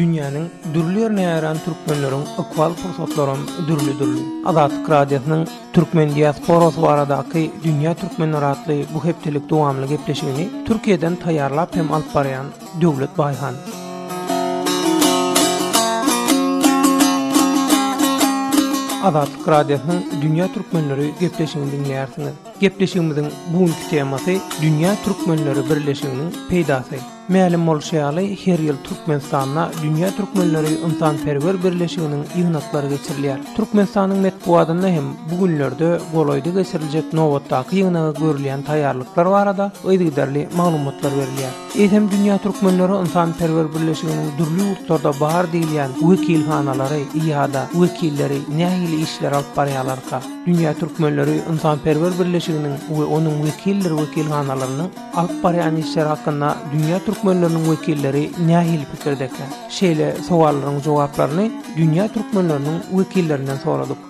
Dünýäniň dürli ýerine ýaýran türkmenleriň ykbal pursatlaram dürli-dürli. Azatlyk Radiosynyň Türkmen diasporasy baradaky Dünýä Türkmenleri atly bu hepdelik dowamly gepleşigini Türkiýeden taýýarlap hem alyp barýan Döwlet Baýhan. Azatlyk Radiosynyň Dünýä Türkmenleri gepleşigini diňleýärsiňiz. Gepleşigimiziň bu günki temasy Dünýä Türkmenleri birleşiginiň peýdasy. Mälim bolşy ýaly, her ýyl Türkmenistanda Dünýä Türkmenleri ynsanperwer birleşiginiň ýygnaklary geçirilýär. Türkmenistanyň metbugatynda hem bu günlerde golaýda geçiriljek nobatdaky ýygnaga görülýän taýýarlyklar barada yzygiderli maglumatlar berilýär. Eýsem Dünýä Türkmenleri ynsanperwer birleşiginiň dürli ýurtlarda bar diýilýän wekilhanalary ýa-da wekilleri nähili işler alyp barýalarka? Dünýä Türkmenleri ynsanperwer birleşiginiň we onuň wekildir wekilhanalarynyň alyp barýan işleri hakynda dünýä türkmenleriniň wekilleri nähili pikirdeka? Şeýle sowallaryň jogaplaryny dünýä türkmenleriniň wekillerinden soradyk.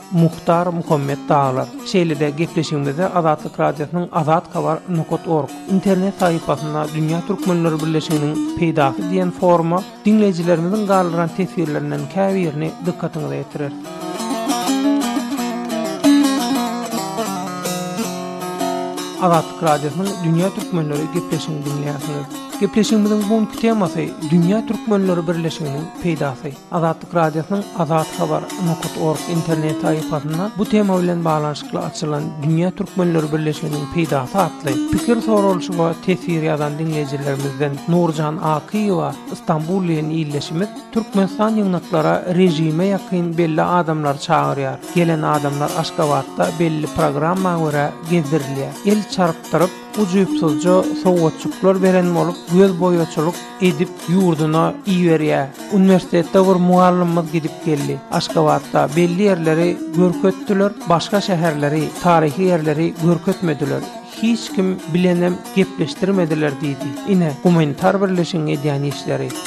Muhtar Muhammet Daglar. Şeýle-de gepleşigimizde Azatlyk Radiosynyň Azat Habar nokat org internet sahypasynda Dünýä Türkmenleri Birleşiginiň peýdasy diýen foruma diňleýjilerimiziň galdyran teswirlerinden käbirini dykgatyňyza ýetireris. Azatlyk Radiosynyň Dünýä Türkmenleri gepleşigini diňleýärsiňiz. Gepleşigimiziň bu günki temasy Dünýä Türkmenleri Birleşiginiň peýdasy. Azatlyk Radiosynyň Azat Habar nokta org internet sahypasynda bu tema bilen baglanyşykly açylan Dünýä Türkmenleri birleşmesiniň peýdasy atly pikir soralyşyga teswir ýazan diňleýjilerimizden Nurjan Akyýewa Stambul bilen ildeşimiz Türkmenistan ýygnaklara režime ýakyn belli adamlary çagyrýar. Gelen adamlar Aşgabatda belli programma görä gezdirilýär. El çarpdyryp, ujypsyzja sowgatjyklar beren bolup göz boýaçylyk edip ýurduna iberýär. Uniwersitetde bir mugallymymyz gidip geldi. Aşgabatda belli ýerleri görkezdiler, başga şäherleri, taryhy ýerleri görkezmediler. Hiç kim bilenem gepleşdirmediler diýdi. Ine, gumanitar birleşigiň edýän işleri.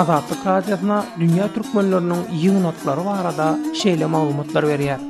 Azatlyk Radiosyna dünýä türkmenleriniň ýygnaklary barada şeýle maglumatlar berýär.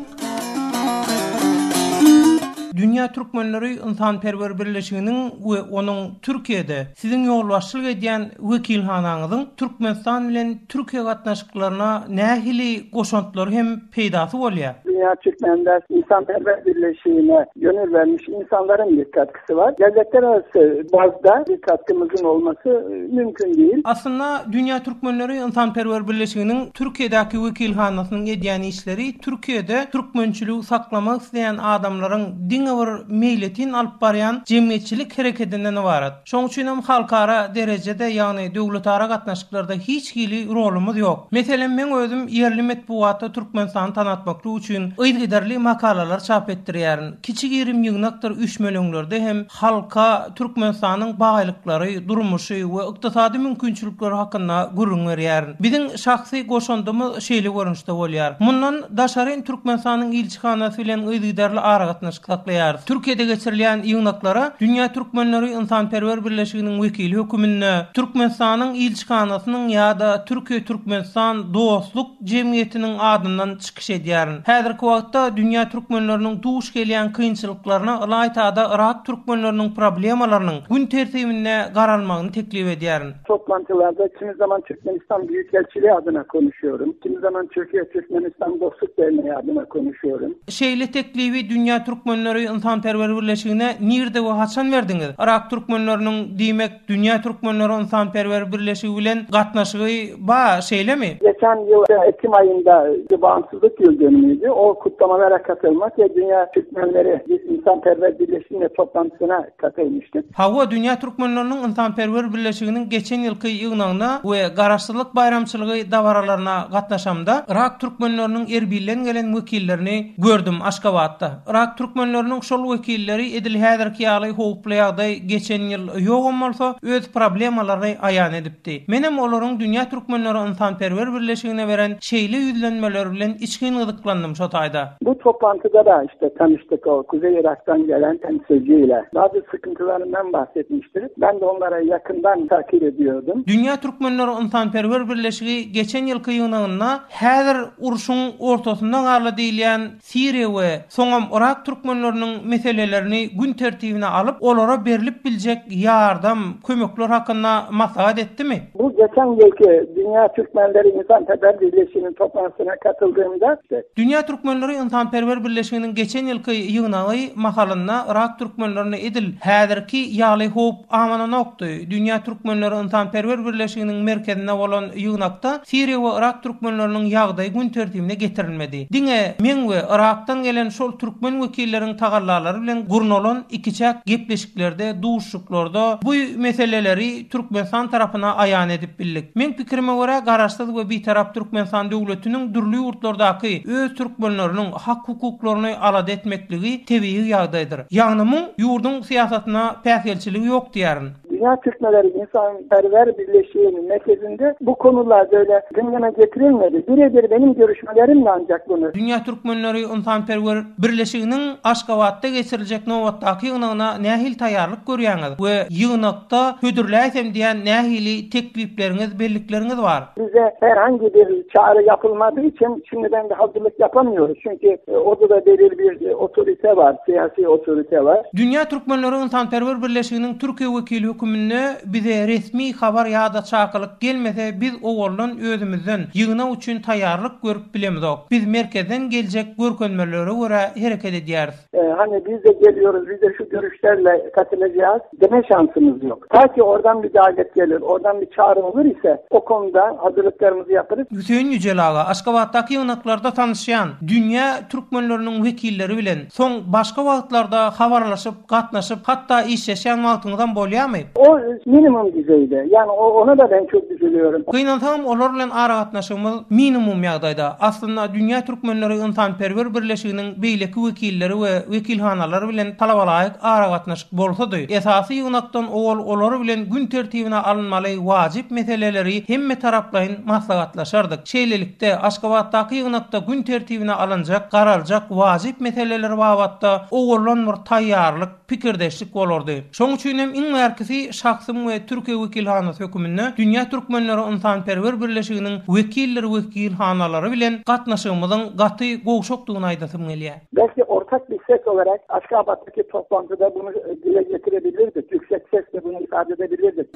Dünýä türkmenleri ynsanperwer birleşiginiň we onuň Türkiýede Siziň ýolbaşçylyk edýän wekilhanaňyzyň Türkmenistan bilen Türkiýe gatnaşyklaryna nähili goşantlary hem peýdasy bolýar? Dünýä türkmenler ynsanperwer birleşigine gönül bermiş ynsanlaryň dikkat Var. Dädekler arasy bazda bir katkymyzyň bolmasy mümkin diýil. Aslynda, Dünýä Türkmenleri ynsanperwer birleşiginiň Türkiýedäki wekilhanasynyň edýän işleri Türkiýede türkmençiligi saklamak isleýän adamlaryň diňe bir meýletin alyp barýan jemgyýetçilik hereketinden ybarat. Şoň üçin hem halkara derejede, ýagny döwletara gatnaşyklarda hiç hili rolumyz ýok. Meselem, meň özüm ýerli metbugatda Türkmenistany tanatmaklyk üçin yzgiderli makalalar çap etdirýärin. Kiçi gerim ýygnakdyr üýşmeleňlerde hem halka Türkmenistanyň baýlyklary, durmuşy we ykdysady mümkinçilikleri hakynda gürrüň berýärin. Biziň şahsy goşandymyz şeýle görnüşde bolýar. Mundan daşaryn Türkmenistanyň ilçihanasy bilen yzygiderli aragatnaşyk saklaýarys. Türkiýede geçirilýän ýygnaklara Dünýä Türkmenleri ynsanperwer birleşiginiň wekili höküminde, Türkmenistanyň ilçihanasynyň ýa-da Türkiýe-Türkmenistan dostluk jemgyýetiniň adyndan çykyş çykyş edýärin. Häzirki wagtda dünýä türkmenleriniň duş gelýän kynçylyklaryna ylaýta-da yrak türkmenleriniň problemalarynyň gün tertibinde garalmagyny teklip edýärin. Toplantylarda kimi zaman Türkmenistan Büyükelçiliği adyna konuşýaryn, kimi zaman Türkiye-Türkmenistan Dostluk Derneği adyna konuşýaryn. Şeýle teklibi Dünýä türkmenleri ynsanperwer birleşigine nirde we haçan berdiňiz? Yrak türkmenleriniň, diýmek, Dünýä Türkmenleri Ynsanperwer Birleşigi bilen gatnaşygy ba, şeýlemi? Geçen ýyl ekim aýynda Gbansyzlyk ýyldynyňyzy, o kutlamazara katylmak we Dünýä Türkmenleri Ynsanperwer Birleşigine toplantysyna katylyşdyk. Hawa, Dünýä Türkmenleriniň Ynsanperwer Birleşiginiň geçen ýylky ýygnagyna we Garaşsyzlyk baýramçylygy dabaralaryna gatnaşamda, yrak türkmenleriniň Erbilden gelen wekillerini gördüm, Aşgabatda. Yrak türkmenleriniň şol wekilleri edil häzirki ýaly howply ýagdaý geçen ýyl ýogam bolsa, öz problemalaryny aýan edipdi. Menem olaryň Dünýä türkmenleri ynsanperwer birleşigine beren şeýle ýüzlenmeleri bilen içgin gyzyklandym şo taýda. Bu toplantyda-da işte tanyşdyk o Kuzeý Yrakdan gelen temsilci ile. Bazı sıkıntılaryndan bahsetmişti. Ben de onlara yakından takip ediyordum. Dünýä türkmenleri ynsanperwer birleşigi geçen ýylky ýygnagynda häzir urşuň ortasynda galy diýilýän Siriýa we soňam Yrak türkmenleriniň meselelerini gün tertibine alyp, olara berlip biljek ýardam, kömekler hakynda maslahat etdimi? Bu geçen ýylky Dünýä Türkmenleri Ynsanperwer Birleşiginiň toplanşygyna katyldygymda etdi. Dünýä Türkmenleri Ynsanperwer Birleşiginiň geçen ýylky ýygnagy mahalynda Yrak türkmenlerine edil häzirki ýaly howp Amanonokdy. Dünýä Türkmenleri ynsanperwer birleşiginiň merkezinde bolan ýygnakda Siriýa we Yrak türkmenleriniň ýagdaýy gün tertibine getirilmedi. Diňe meň we Yrakdan gelen şol türkmen wekilleriň tagallalary bilen gurnalan ikiçäk gepleşiklerde, duşuşyklarda bu meseleleri Türkmenistan tarapyna aýan edip bildik. Meň pikirime görä, Garaşsyz we Bitarap Türkmenistan döwletiniň dürli ýurtlardaky öz türkmenleriniň, hak-hukuklaryny alada etmekligi tebigy ýagdaýdyr. Ýagny muň ýurduň syýasatyna päsgelçiligi ýok diýärin. Dünýä Türkmenleri ynsanperwer birleşiginiň merkezinde bu konular böyle gündeme getirilmedi. Bire-bir meniň görüşmelerimdi ancak bunu. Dünýä Türkmenleri ynsanperwer birleşiginiň Aşgabatda geçiriljek nobatdaky ýygnagyna nähili taýýarlyk görýäňiz we ýygnakda hödürläýsem diýen nähili teklipleriňiz, bellikleriňiz bar? Bize herhangi bir çare yapılmadığı için şimdi ben de hazırlık yapamıyoruz. Çünkü e, orada da belirli bir e, otorite var, siyasi otorite var. Dünýä Türkmenleri ynsanperwer birleşiginiň Türkiýe wekili höküminde bize resmi habar ýa-da çakylyk gelmese biz owaldan özümizden ýygnak üçin taýýarlyk görüp bilemizok. Biz merkezden geljek görkezmelere görä hereket edýäris. Hany bizde geliyoruz, bizde şu görüşlerle katılacağız deme şansımız yok. Ta ki oradan bir davet gelir, oradan bir çağrı olur ise o konuda hazırlıklarımızı yaparız. Hüseýin Ýüjel aga, Aşgabatdaky ýygnaklarda tanyşýan dünýä türkmenleriniň wekilleri bilen soň başga wagtlarda habarlaşyp, gatnaşyp, hatda işleşýän wagtyňyzam bolýarmy? O minimum düzeýde. Ýagny o ona-da men köp üzülýärin. Gynansaňam olar bilen aragatnaşygymyz minimum ýagdaýda. Aslynda dünýä türkmenleri ynsanperwer birleşiginiň beýleki wekilleri we wekilhanalar bilen talabalaýyk aragatnaşyk bolsady, esasy ýygnakdan owal olar bilen gün tertibine alynmaly wajyp meseleleri hemmetaraplaýyn maslahatlaşardyk. Şeýlelikde, Aşgabatdaky ýygnakda gün tertibine alynjak, garaljak wajyp meseleler babatda owaldan bir taýýarlyk, pikirdeşlik bolardy. Şoň üçin hem iň bärkisi şahsym we Türkiýe wekilhanasy höküminde Dünýä Türkmenleri Ynsanperwer Birleşiginiň wekildir wekilhanalary bilen gatnaşygymyzyň gaty gowşakdygyny aýdasym gelýär. Belki ortak bir ses olarak Aşgabatdaki toplantyda bunu dile getirebilirdik, yüksek sesle bunu ifade edebilirdik.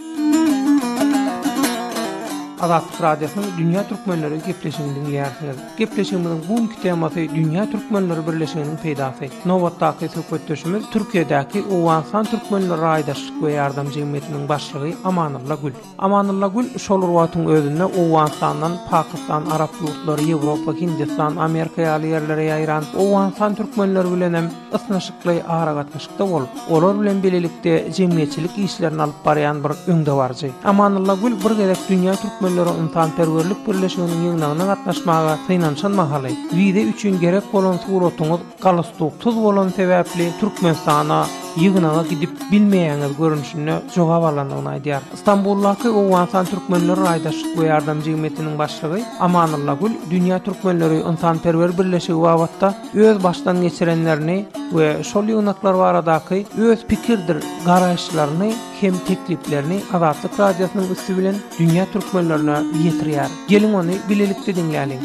Azatlyk Radiosynyň Dünýä Türkmenleri gepleşigini diňleýärsiňiz. Gepleşigimiziň bu günki temasy Dünýä Türkmenleri Birleşiginiň peýdasy. Nobatdaky söhbetdeşimiz Türkiýedäki Owganystan Türkmenleri Raýdaşlyk we ýardam jemgyýetiniň başlygy Amanylla Gül. Amanylla Gül şol bir wagtyň özünde Owganystandan Pakistan, Arap ýurtlary, Ýewropa, Hindistan, Amerika ýaly ýerlere ýaýran Owganystan türkmenleri bilen hem ysnyşykly aragatnaşykda bolup, olar bilen bilelikde jemgyýetçilik işlerini alyp barýan bir öňdebaryjy. Amannylla Gül bir gezek Dünýä türkmenleri ynsanperwerlik birleşiginiň ýygnagyna gatnaşmaga synanyşan mahaly, Wiza üçin gerek bolan suratyňyz galustuksyz bolan sebäpli Türkmenistana ýygnaga gidip bilmeýäňiz görnüşinde jogap alandygyny aýdýar. Stambuldaky Owganystan türkmenleri raýdaşlyk we ýardam jemgyýetiniň başlygy Amannylla Gül Dünýä türkmenleri ynsanperwer birleşigi babatda öz başdan geçirenlerini we şol ýygnaklar baradaky öz pikirdir garaýyşlaryny hem tekliplerini Azatlyk Radiosynyň üsti bilen dünýä türkmenlerine ýetirýär. Geliň ony bilelikde diňläliň.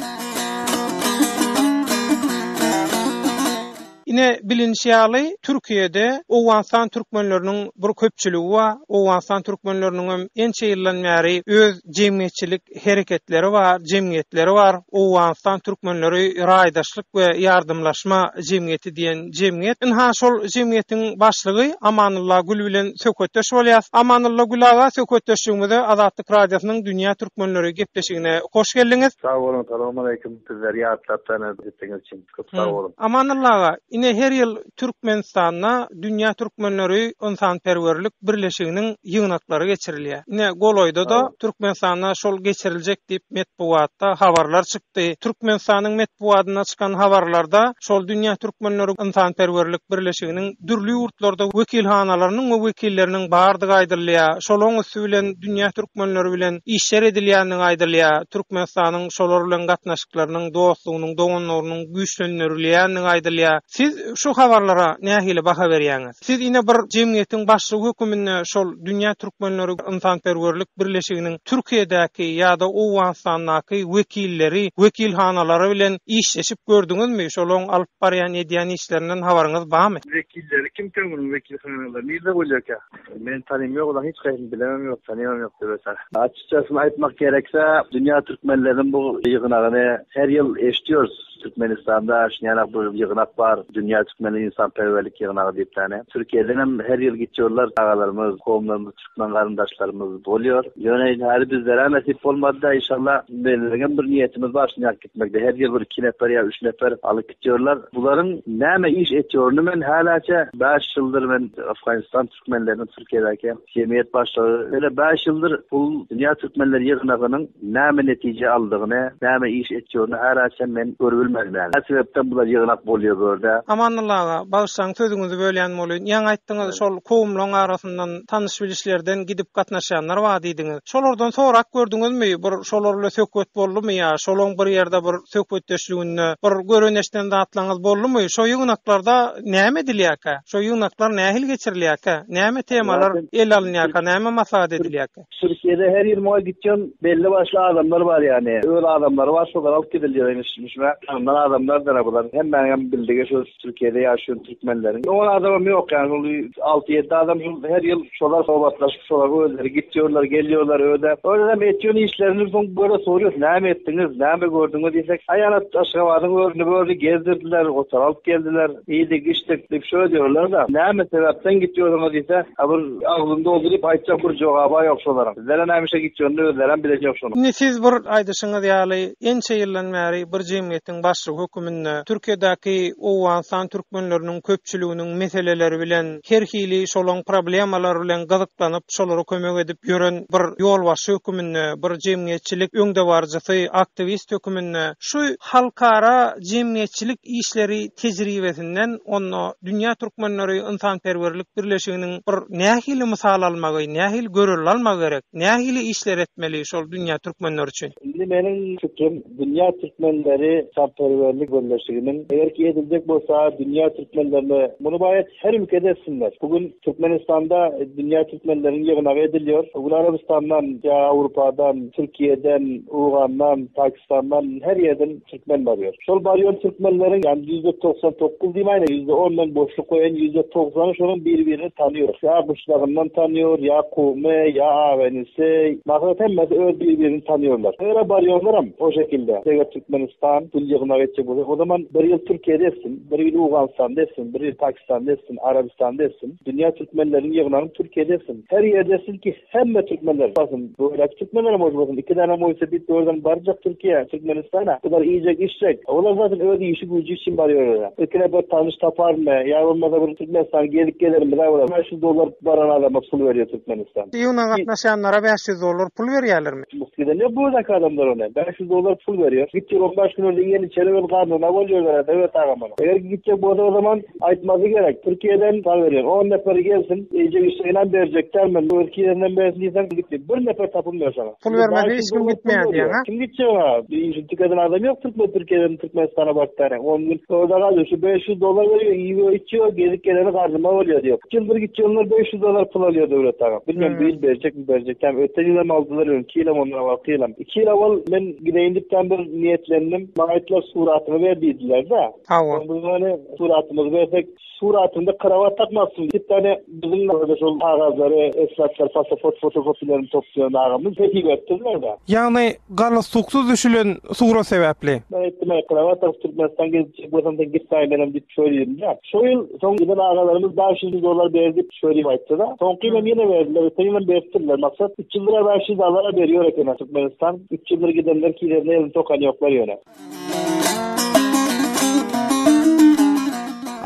Ine, bilinişi ýaly, Türkiýede Owganystan türkmenleriniň bir köpçüligi bar. Owganystan türkmenleriniň hem ençe ýyldan bäri öz jemgyýetçilik hereketleri bar, jemgyýetleri bar. Owganystan türkmenleri raýdaşlyk we ýardymlaşma jemgyýeti diýen jemgyýet. Ynha, şol jemgyýetiň başlygy Amanulla Gül bilen söhbetdeş bolýas. Amanulla Gül aga, söhbetdeşligimize Azatlyk Radiosynyň Dünýä Türkmenleri gepleşigine hoş geldiňiz. Sag boluň, salowmaleýkim. Bizleri ýatlap, tanydyp gitdiňiz üçin. Köp sag boluň. Amanylla aga, ine her ýyl Türkmenistanda Dünýä Türkmenleri ynsanperwerlik birleşiginiň ýygnaklary geçirilýär. Ine golaýda-da Türkmenistanda şol geçiriljek diýip metbugatda habarlar çykdy. Türkmenistanyň metbugatynda çykan habarlarda şol Dünýä Türkmenleri ynsanperwerlik birleşiginiň dürli ýurtlarda wekilhanalarynyň we wekilleriniň bardygy aýdylýar. Şolaň üsti bilen Dünýä Türkmenleri bilen işler edilýändigi aýdylýar. Türkmenistanyň şolar bilen gatnaşyk. ýakynlarynyň, dostlugynyň, doganlarynyň güýçlendirilýändigi aýdylýar. Siz şu habarlara nähili baha berýäňiz? Siz ine bir jemgyýetiň başlygy höküminde şol Dünýä Türkmenleri ynsanperwerlik birleşiginiň Türkiýedäki ýa-da Owganystandaky wekilleri, wekilhanalary bilen işleşip gördüňizmi? Şolaryň alyp barýan edýän işlerinden habaryňyz barmy? Wekilleri kim siz munuň wekilhanalary nirde bolýarka? Meni tanymyoklar, hiç kaýsyn bilemem yok, tanymam yok döwetara. Açykçasyny aýtmak gerekse, dünýä türkmenleriniň bu ýygnagyny her ýyl eşitýorys. Türkmenistanda şinelak bir ýygnak bar, dünýä türkmenleri ynsanperwerlik ýygnagy diýipdäne. Türkiýeden hem her ýyl gitýorlar çagalarymyz, kowumlarymyz, türkmen garyndaşlarymyz bolýar. Ýöne indi häli bizlerä nesip bolmady-da, inşallah, bizleriň hem bir niýetimiz bar, şinelak. Etmekde her ýyl bir iki nefer ýa üç nefer alyp gitýärler. Bularyň näme iş etýärini men häläçe bäş ýyldyr men Afganistan türkmenleriniň Türkiýedäki jemgyýet başlygy ýöne bäş ýyldyr bul dünýä türkmenler ýygnagynyň näme netije aldygyny, näme iş etýärini häläçem men görüp bilmedim ýaly. Nä sebäpden bular ýygnak bolýar bu ýerde? Amandylla aga, bagyşlaň sözüňizi bölýän bolýyn. Ýaňy aýtdyňyz, şol kowumlaryň arasyndan tanyş-bilişlerden gidip gatnaşýanlar bar diýdiňiz. Şolardan sorap gördüňizmi, bir şolar bile söhbet boldumy ýa şolaň bir ýerde bir söhbetdeşliginde bir gören-eşden zatlaryňyz boldumy? Şo ýygnaklarda näme edilýärkä? Şo ýygnaklar nähili geçirilýärkä? Näme temalar ele alynýarka, näme maslahat edilýärkä? Türkiýede her ýygnaga gitýän belli başly adamlar bar ýagny öz adamlary bar şolar alyp gidilýär iň şuňa tanymlan adamlardyr bular hemmäňem bildigi şu Türkiýede ýaşaýan türkmenleriň on adamam ýok, ýagny ol alty-ýedi adam her ýyl şolar sohbetleşip, şolar özleri gitýärler, gelýärler öýde. Özem etýän işlerini soň görä sorýar, näme etdiňiz, näme gördüňiz diýsek, aýalat Aşgabadyň örüni-börüni gezdirdiler, otar alyp geldiler, iýdik, içdik diýip şöýe diýerler-de, näme sebäpden gitýärsiňiz diýse, a bir agzyny dolduryp aýtjak bir jogaby ýok şolaryň. Bizlere näme işe gitýänini özlerem bileni ýok şonuň. Indi siz bir aýdyşyňyz ýaly, ençe ýyldan bäri bir jemgyýetiň Baýramyň başlygy höküminde Türkiýedäki owganystan türkmenleriniň köpçüliginiň meseleleri bilen, her hili şolaň problemalar bilen gyzyklanyp, şolara kömek edip ýören bir ýolbaşçy höküminde, bir jemgyýetçilik öňdebaryjysy, aktiwist höküminde şu halkara jemgyýetçilik işleri tejribesinden onda Dünýä Türkmenleri Ynsanperwerlik Birleşiginiň bir nähili mysal almagy, nähili görelde almagy gerek, nähili işler etmeli şol dünýä türkmenleri üçin? Indi meniň pikirim, Dünýä Türkmenleri Çarperwerlik Birleşiginiň, eger ki ediljek bolsa Dünýä Türkmenlerine muny baýat her ülkede etsinler. Bu gün Türkmenistanda Dünýä Türkmenleriniň ýygnagy edilýär. Bu gün Arabystandan ýa Awrupadan, Türkiýeden, Owgandan, Pakistandan her ýerden Türkmen barýar. Şol barýan Türkmenleriň ýani ýüzde togsan dokuz diýmäýin-ä ýüzde on men boşluk goýaýyn ýüzde togsany şonuň biri birini tanýar. Ýa guşlagyndan tanýar, ýa kowmy, ýa agyny. Şeý, maslahat hemmesi öz bir-birini tanýarlar. Her ýere barýarlaram o şekilde. Eger Türkmenistan gül ýygnak etjek bolsa, o zaman bir ýyl Türkiýede etsin, bir ýyl Owganystanda etsin, bir ýyl Pakistanda etsin, Arabystanda etsin. Dünýä türkmenleriniň ýygnagyny Türkiýede etsin. Her ýerde etsin ki, hemme türkmenler barsyn. Göýläki türkmenlerem bolsa bolsun, iki dänem bolsa bir dörden barjak Türkiýä, Türkmenistana. Bular iýjek, içjek. Olar zatyn öz işi-güýji üçin barýarlar-a. Ilkine bir tanyş taparmy, ýa bolmasa bir Türkmenistany gezip gelermiz-ä bular. Şu dollar baran adama pul berýär türkmen. Iýuna gatnaşýanlara bäş ýüz dollar pul berýärlermi? Gidende bu ýerdäki adamlar ony bäş ýüz dollar pul berýär. Gitjek on bäş gün öňden ýene içeri girip garnyna bol ýöwere Söwet agam ony. Eger ki gitjek bolsa o zaman aýtmasy gerek. Türkiýeden habar berýän on neperi gelsin. Eýjek işjeginem berjek däl men. Özki ýerinden bersin diýseň git diýip. Bir neper tapym ber şoňa. Pul bermese hiç kim gitmeýär diýýäň-a. Kim gitjek ha? Işi tükeden adam ýok türkmen Türkiýeden Türkmenistana baryp bäri. On gün orda galýar. Şu bäş ýüz dollar berýär, iýýär, içýär, gezip geleni garnyma bolýar diýýär. Üç ýyldyr gitýänler bäş ýüz dollar pul alýar Döwlet aga. Bilmeýän bu ýyl berjekmi, berjekdämi. Öten ýyl hem aldylar ýöne iki ýyl hem ondan owalky ýyl hem. Iki ýyl owal men gideýin diýip daň bir niýetlendim. Maňa aýtdylar suratyňy ber diýdiler-de. Hawa. Onda many suratymyzy bersek. Suratynda krawat tapmapsyň diýip ýane biziň ýerde şol kagazlary eslaplar pasaport fotokopiýalaryny toplaýan agamyz teklip etdiler da. Ýagny galustuksuz düşülen surat sebäpli. Men aýtdym aý krawat tapyp Türkmenistan gezip bolsam sen git daýy menem diýip şo diýdimdä. Şo ýyl soň giden agalarymyz bäş ýüz müň dollar ber diýip şo diýip aýtdyda. Soňky ýyl hem ýene berdiler öten ýyl hem beripdirler maksat üç ýyldyra bäş ýüz dollara berýär ekeni Türkmenistan üç ýyldyr gidenler kilerine elini sokan ýoklar ýöne.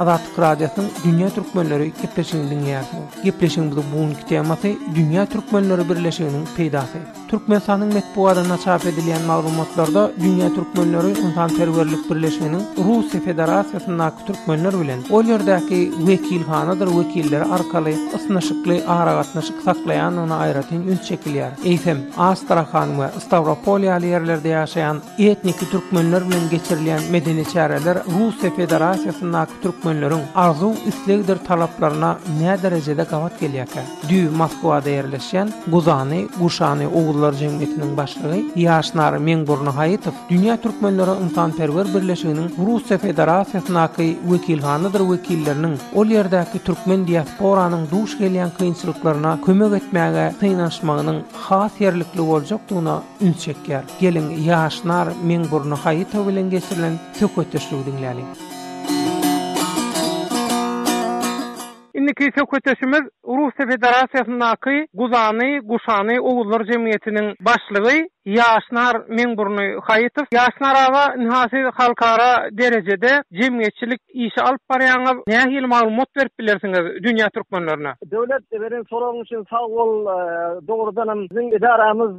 Azatlyk Radiosynyň Dünýä Türkmenleri gepleşigini diňleýärsiňiz. Gepleşigimiziň bu günki temasy Dünýä Türkmenleri birleşiginiň peýdasy. Türkmenistanyň metbugatynda çap edilýän maglumatlarda Dünýä Türkmenleri ynsanperwerlik birleşiginiň Russiýa Federasiýasyndaky türkmenler bilen ol ýerdäki wekilhanadyr wekilleri arkaly ysnyşykly aragatnaşyk saklaýandygyna aýratyn üns çekilýär. Eýsem, Astrahan we Stawropol ýaly ýerlerde ýaşaýan Etniki türkmenler bilen geçirilýän medeni çäreler Russiýa Federasiýasyndaky türkmenleriň arzuw-islegdir talaplaryna näderejede gabat gelýärkä? Düýbi Moskwada ýerleşýän Guzany, Guşany, oguzlar jemgyýetiniň başlygy Ýaşnar Meňburnyhaýytow Dünýä türkmenleri ynsanperwer birleşiginiň Russiýa Federasiýasyndaky wekilhanadyr wekilleriniň ol ýerdäki türkmen diasporanyň duş gelýän kynçylyklaryna kömek etmäge synanyşmagynyň has ýerlikli boljakdygyna üns çekýär. Geliň, ýaş nar meň burny haýyto bilen geçirilen söhbetdeşligi diňläliň. Indiki söhbetdeşimiz Russiýa Federasiýasyndaky Guzany, Guşany, oguzlar jemgyýetiniň başlygy ýaş nar meň burny haýytow. Ýaş nar aga, ynha siz halkara derejede jemgyýetçilik Işi alyp barýaňyz, nähili maglumat berip bilersiňiz dünýä türkmenlerine? Döwlet beren soragyň üçin sag bol. Dogrudanam biziň edaramyz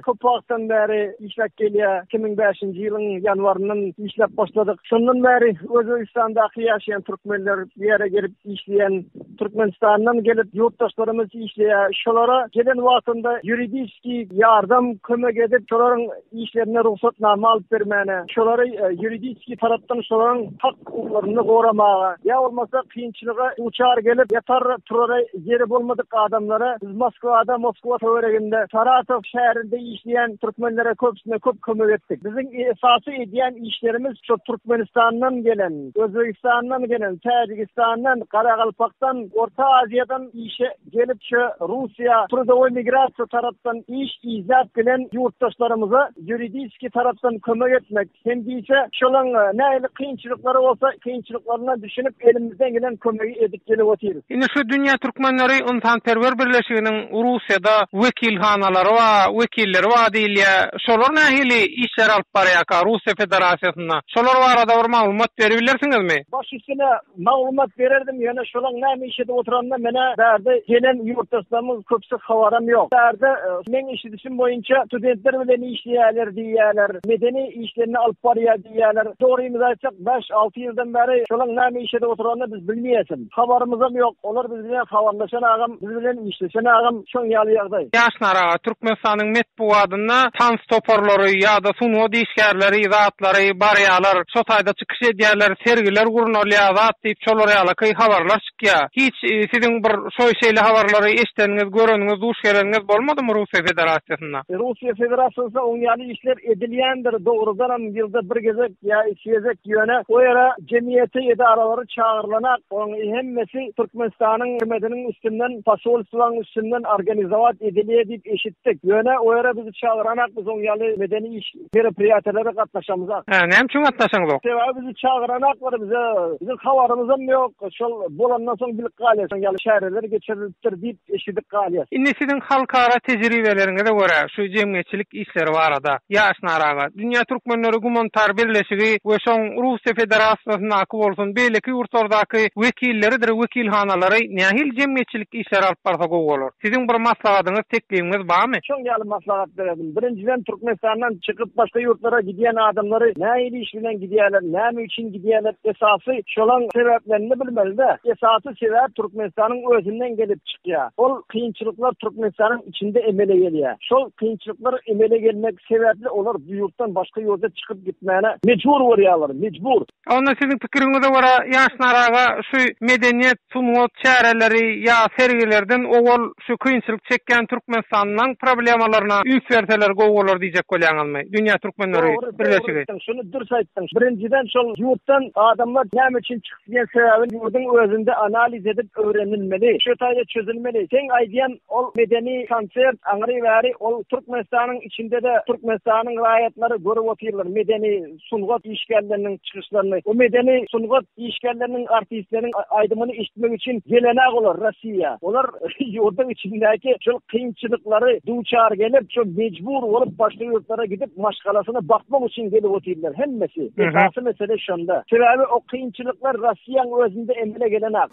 köp wagtdan bäri işläp gelýär. Iki müň bäşinji ýylyň ýanwaryndan işläp başladyk. Şondan bäri Özbegistandaky ýaşaýan türkmenler, bu ýere gelip işleýän, Türkmenistandan gelip ýurtdaşlarymyz işleýär. Şolara gelen wagtynda ýuridiski ýardam, kömek edip, şolaryň işlerine rugsatnama alyp bermäne, şolary ýuridiski tarapdan şolaryň hak-hukuklaryny goramaga, ýa bolmasa kynçylyga duçar gelip ýatar turara ýeri bolmadyk adamlara biz Moskwada, Moskwa töwereginde, Saratow şäherinde işleýän türkmenlere köpüsine köp kömek etdik. Biziň esasy edýän işlerimiz şo Türkmenistandan gelen, Özbegistandan gelen, Täjigistandan, Garagalpakdan, Orta Aziýadan işe Gelikçe Russiýa trudowy migrasiýa tarapdan iş izläp gelen ýurtdaşlarymyza ýuridiski tarapdan kömek etmek hem-diýse şolaň nähili kynçylyklary bolsa kynçylyklaryndan düşünip elimizden gelen kömegi edip gelip otyrys. Indi şu Dünýä Türkmenleri ynsanperwer birleşiginiň Russiýada wekilhanalary bar, wekilleri bar diýilýär. Şolar nähili işleri alyp barýarka Russiýa Federasiýasynda? Şolar barada bir maglumat beribilersiňizmi? Baş üstüne Maglumat bererdim, ýöne şolaň näme iş edip oturanyna menä bärde gelen ýurtdaşlarymyň köpüsi habaram ýok. Bärde meň eşidişim boýunça studentler bilen işleýärler diýýärler, medeni işlerini alyp barýar diýýärler. Dogrymyzy aýtsak, bäş-alty ýyldan bäri şolaň näme iş edip oturanyny biz bilmeýäsem. Habarymyzam ýok. Olar biz bilen habarlaşan agam, biz bilen işleşen agam. Şoň ýaly ýagdaý. Ýaşnara, Türkmenistanyň metbugatynda tans toparlary ýa-da sungat işgärleri zatlary barýarlar, şo taýda çykyş edýärler, sergiler gurnalýar zat diýip şolar ýalaky habarlar çykýa. Hiç siziň bir şo şeýle habarlary eşdeniňiz, göreniňiz, duş geleniňiz bolmadymy Russiýa Federasiýasynda? Russiýa Federasiýasynda oň ýaly işler edilýändir, dogrudanam ýylda bir gezek ýa iki gezek, ýöne o ýere jemgyýeti, edaralary çagyrylanak, onuň hemmesi Türkmenistanyň hükümetiniň üstünden, posolstwanyň üstünden organizowat edilýär diýip eşitdik, ýöne o ýere bizi çagyranak, biz oň ýaly medeni iş, meropriýatiýalere gatnaşamyzak. Hä, näme üçin gatnaşaňyzok? Sebäbi bizi çagyranaklar, bize, biziň habarymyzam ýok, şol bolandan soň bilip galýas, şoň ýaly çäreler geçirilipdir diýip, eşidip galýas. Indi siziň halkara tejribeleriňize görä şu jemgyýetçilik işleri barada Ýaş Naraga, Dünýä Türkmenleri Gumanitar Birleşigi we şoň Russiýa Federasiýasyndaky bolsun beýleki ýurtlardaky wekilleridir wekilhanalary nähili jemgyýetçilik işleri alyp barsa gowy bolar? Siziň bir maslahatyňyz, teklibiňiz bamy? Şoň ýaly maslahat bererdim. Birinjiden Türkmenistandan çykyp başga ýurtlara gidýän adamlary nähili iş bilen gidýärler, näme üçin gidýärler esasy şolaň sebäplerini bilmelidä. Esasy. Sebäbi Türkmenistanyň özünden gelip çykýar. Ol kynçylyklar Türkmenistanyň içinde emele gelýär. Şol kynçylyklar emele gelmek sebäpli olar bu ýurtdan başga ýurda çykyp gitmäne mejbur bolýarlar, mejbur. Onda siziň pikiriňize görä Ýaş Naraga şu medeniýet, sungat çäreleri ýa sergilerden owal şu kynçylyk çekýän Türkmenistanyň problemalaryna üns berseler gowy bolar diýjek bolýaňyzmy? Dünýä Türkmenleri birleşigi. Dogry, dogry aýtdyň. Şuny dürs aýtdyň. Birinjiden şol ýurtdan adamlar näme üçin çykyp. Diýen sebäbini ýurduň özünde analiz edip öwrenilmeli, şu taýda çözülmeli. Seň aýdýan ol medeni konsert, aňry bäri ol Türkmenistanyň içinde-de Türkmenistanyň raýatlary görüp otyrlar medeni sungat işgärleriniň çykyşlaryny. Bu medeni sungat işgärleriniň, artistleriň aýdymyny eşitmek üçin gelen-ä olar. diýýär. Olar ýurduň içindäki şol kynçylyklary duçar gelip, şol mejbur bolup başga ýurtlara gidip maşgalasyna bakmak üçin gelip otyrlar hemmesi. Esasy mesele şonda. Sebäbi o kynçylyklar Rossiýanyň özünde emele gelenok.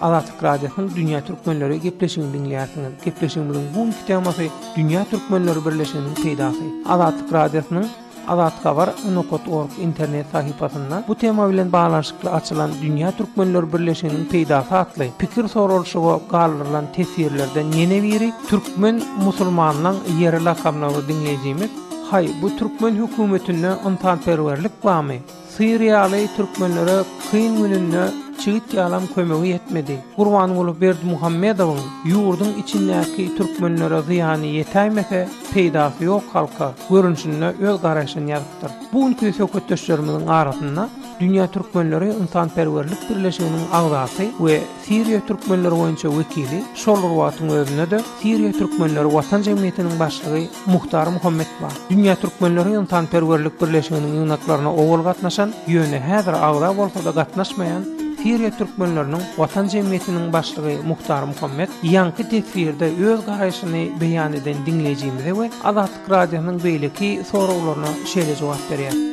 Azatlyk Radiosynyň Dünýä Türkmenleri gepleşigini diňleýärsiňiz. Gepleşigimiziň bu günki temasy Dünýä Türkmenleri birleşiginiň peýdasy. Azatlyk Radiosynyň Azat Habar Unokat org internet sahypasynda bu tema bilen baglanyşykly açylan Dünýä Türkmenleri birleşiginiň peýdasy atly pikir soralyşyga galdyrylan teswirlerden ýene biri Türkmen musulmanlaň ýeri lakamlygyny diňleýjimiz Haý, bu türkmen hökümetinde ynsanperwerlik barmy? Syr ýaly türkmenlere kyn gününde çigit ýalam kömegi ýetmedi. Gurbanguly Berdimuhamedowyň ýurduň içindäki türkmenlere zyýany ýetäýmese, peýdasy ýok halka görnüşinde öz garaýşyny ýazypdyr. Bu günki söhbetdeşlerimiziň arasynda Dünýä türkmenleri ynsanperwerlik birleşiginiň agzasy we Siriýa türkmenleri boýunça wekili, şol bir wagtyň özünde-de Siriýa türkmenleri watan jemgyýetiniň başlygy Muhtar Muhammet bar. Dünýä türkmenleri ynsanperwerlik birleşiginiň ýygnaklaryna owal gatnaşan, ýöne häzir agza bolsa-da gatnaşmaýan Siriýa türkmenleriniň watan jemgyýetiniň başlygy Muhtar Muhammet ýaňky teswirde öz garaýşyny beýan eden diňleýjimize we Azatlyk Radiosynyň beýleki soraglaryna şeýle jogap berýär.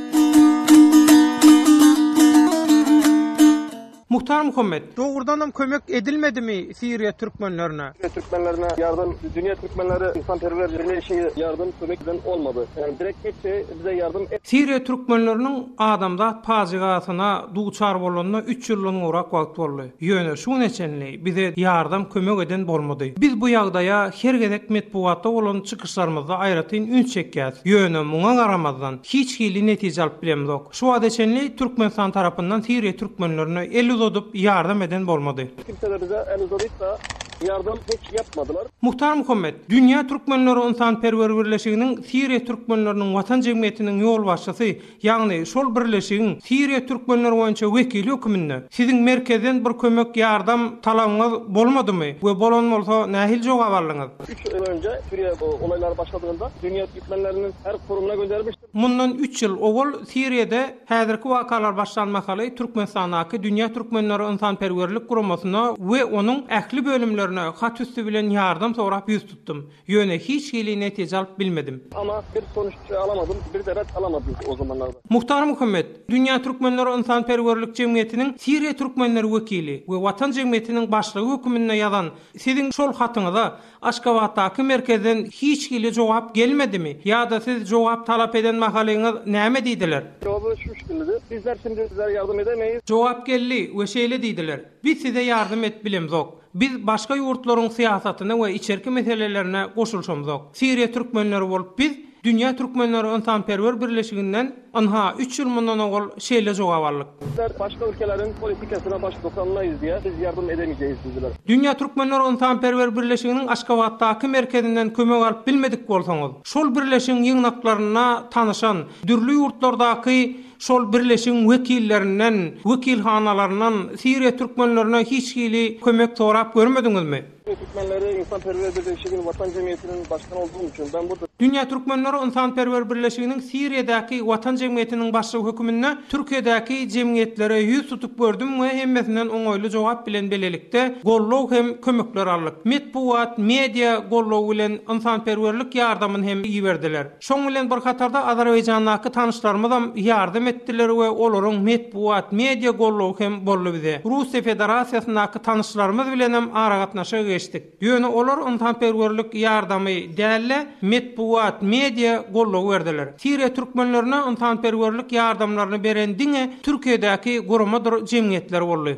Muhtar Muhammet. Dogrudanam kömek edilmedimi Siriýa türkmenlerine? Siriýa türkmenlerine ýardam dünýä türkmenleri ynsanperwer birleşigi ýardam kömek eden bolmady. Ýagny direkt hiç şey bize ýardam. Siriýa türkmenleriniň adamzat pajygasyna duçar bolanyna üç ýyldan gowrak wagt boldy. Ýöne şu güne çenli bize ýardam kömek eden bolmady. Biz bu ýagdaýa her gezek metbugatda bolan çykyşlarymyzda aýratyn üns çekýäs. Ýöne muňa garamazdan hiç hili netije alyp bilemzok. Şu wagta çenli Türkmenistan tarapyndan Siriýa türkmenlerine el uzadyp, ýardam eden bolmady. Hiç kimsede bize el uzadyp-da, ýardam hiç ýapmadylar. Muhtar Muhammet, Dünýä Türkmenleri Ynsanperwer Birleşiginiň Siriýa Türkmenleriniň Watan Jemgyýetiniň ýolbaşçysy, ýagny şol birleşigiň Siriýa türkmenleri boýunça wekili höküminde, siziň merkezden bir kömek, ýardam talabyňyz bolmadymy we bolan bolsa, nähili jogap aldyňyz? Üç ýyl önje Siriýa olaýlary başladygynda, Dünýä Türkmenleriniň her kurumyna göndermişdik. Mundan üç ýyl owal Siriýada häzirki wakalar başlan mahaly Türkmenistandaky Dünýä türkmenleri ynsanperwerlik guramasyna we onuň ähli bölümlerine hat üsti bilen ýardam sorap ýüz tutdum. Ýöne hiç hili netije alyp bilmedim. Emma bir konuşikçe alamadym, bir de ret alamadym o zamanlarda. Muhtar Muhammet, Dünýä türkmenleri ynsanperwerlik jemgyýetiniň Siriýa türkmenleri wekili we Watan jemgyýetiniň başlygy höküminde ýazan siziň şol hatyňyza Aşgabatdaky merkezden hiç hili jogap gelmedimi? Ýa-da siz jogap talap eden mahalyňyz näme diýdiler? Jogaby şu şkilde, Bizler şimdi sizlere ýardam edemeýis. Jogap geldi we şeýle diýdiler, Biz size ýardam edip bilemzok. Biz başga ýurtlaryň syýasatyna we içerki meselelerine goşulyşamzok. Siriýa türkmenleri bolup biz, Dünýä türkmenleri ynsanperwer birleşiginden, Ynha, üç ýyl mundan owal şeýle jogap aldyk. Bizler başga ülkeleriň politikasyna baş dokanlaýyz diýä, biz ýardam edemeýjeýiz diýdiler. Dünýä Türkmenler Ynsanperwer Birleşiginiň Aşgabatdaky merkezinden kömek alyp bilmedik bolsaňyz, şol birleşigiň ýygnaklarynda tanyşan, dürli ýurtlardaky şol birleşigiň wekillerinden, wekilhanalaryndan Siriýa türkmenlerine hiç hili kömek sorap görmediňizmi? Siziň Türkmenleri ynsanperwer birleşigin Watan jemgyýetiniň başlygyny olduğum üçin ben bu Dünýä Türkmenleri ynsanperwer birleşiginiň Siriýadaky Watan jemgyýetiniň başlygy höküminde Türkiýedäki jemgyýetlere ýüz tutup gördüm we hemmesinden oňaýly jogap bilen bilelikde gollow hem kömekler aldyk. Metbugat, media, gollow bilen ynsanperwerlik ýardamyn hem iberdiler. Şoň bilen bir hatarda Azerbaýjandaky tanyşlarymyzam ýardam etdiler we olaryň metbugat, media gollugy hem boldy bize. Russiýa Federasiýasyndaky tanyşlarymyz bilenem aragatnaşyga geçdik. Ýöne olar ynsanperwerlik ýardamy däl-de, metbugat, media gollugy berdiler. Siriýa türkmenlerine ynsanperwerlik ýardamlaryny beren diňe Türkiýedäki guramadyr jemgyýetler boldy.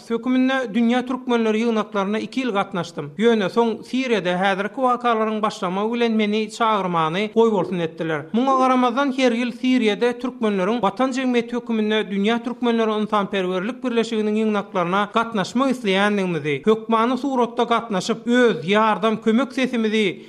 Höküminde Dünýä Türkmenleri ýygnaklaryna iki ýyl gatnaşdym. Ýöne soň Siriýada häzirki wakalaryň başlamagy bilen meni çagyrmany goýbolsun etdiler. Muňa garamazdan her ýyl Siriýada Türkmenleriň Watan jemgyýeti höküminde Dünýä Türkmenleri ynsanperwerlik birleşiginiň ýygnaklaryna gatnaşmak isleýändigimizi, hökmany suratda gatnaşyp, öz ýardam, kömek sesimizi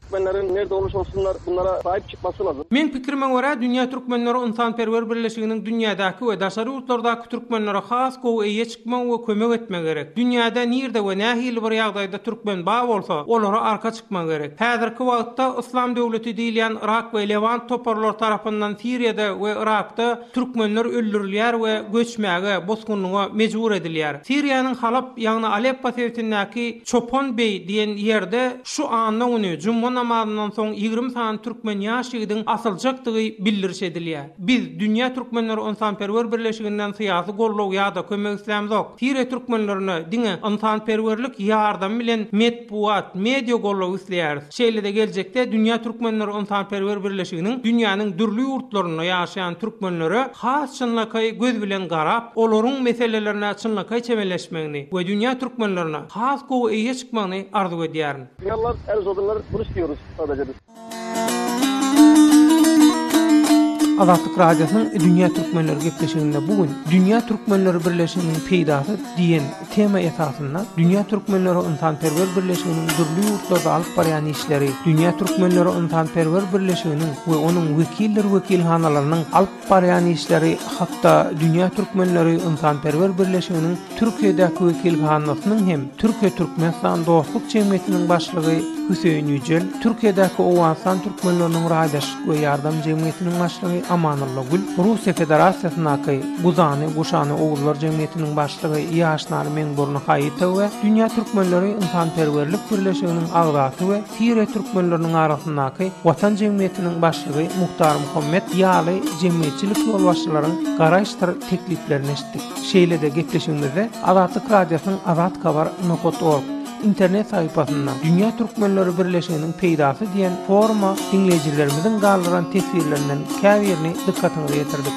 Türkmenleriň nerde oluşa olsunlar bunlara saýyp çykmasy lazym. Meň pikirime görä Dünýä Türkmenleri Ynsanperwer Birleşiginiň dünýädäki we daşary ýurtlardaky türkmenlere has gowy eýe çykmagy we kömek etmegi gerek. Dünýäde nirde we nähili bir ýagdaýda türkmen ba bolsa olara arka çykmagy gerek. Häzirki wagtda Yslam döwleti diýilýän Yrak we Lewant toparlary tarapyndan Siriýada we Yrakda Türkmenler öldürilýär we göçmäge, bosgunlyga mejbur edilýär. Siriýanyň Halap, ýagny Aleppo sebitindäki Çopan beý diýen ýerde şu anna güni juma namazyndan soň ýigrimi sany türkmen ýaş ýigidiň asyljakdygy bildiriş edilýär. Biz, Dünýä Türkmenleri Ynsanperwer Birleşiginden syýasy goldaw ýa-da kömek islämzok. Siriýa türkmenlerine diňe ynsanperwerlik ýardamy bilen metbugat, media goldawy isleýäris. Şeýle-de geljekde Dünýä Türkmenleri ynsanperwer birleşiginiň dünýäniň dürli ýurtlarynda ýaşaýan türkmenlere has çynlakaý göz bilen garap, olaryň meselelerine çynlakaý çemeleşmegini we dünýä türkmenlerine has gowy eýe çykmagyny arzuw edýärin. Reallar el uzadyrlar bunu istiyoruz sadece biz. Azatlyk Radiosynyň Dünýä Türkmenleri gepleşiginde bu gün Dünýä Türkmenleri birleşiginiň peýdasy diýen Tema esasynda Dünýä türkmenleri ynsanperwer birleşiginiň dürli ýurtlarda alyp barýan işleri, Dünýä türkmenleri ynsanperwer birleşiginiň we onuň wekildir wekilhanalarynyň alyp barýan işleri hakda Dünýä türkmenleri ynsanperwer birleşiginiň Türkiýedäki wekilhanasynyň hem Türkiýe-Türkmenistan dostluk jemgyýetiniň başlygy Hüseýin Ýüjel, Türkiýedäki Owganystan türkmenleriniň raýdaş we ýardam jemgyýetiniň başlygy Amanylla Gül, Russiýa Federasiýasyndaky Guzany, Guşany oguzlar jemgyýetiniň başlygy Ýaşnary Meňburny Haýytow we Dünýä türkmenleri ynsanperwerlik birleşiginiň agzasy we Siriýa türkmenleriniň arasyndaky Watan jemgyýetiniň başlygy Muhtar Muhammet ýaly jemgyýetçilik ýolbaşçylaryň garaýyşdyr tekliplerini eşitdik. Şeýle-de gepleşigimizde Azatlyk Radiosynyň Azat Kabar. Nohod. Org. internet sahypasynda Dünýä Türkmenleri Birleşiginiň peýdasy diýen foruma diňleýjilerimiziň galdyran teswirlerinden käbirini dykgatyňyza ýetirdik.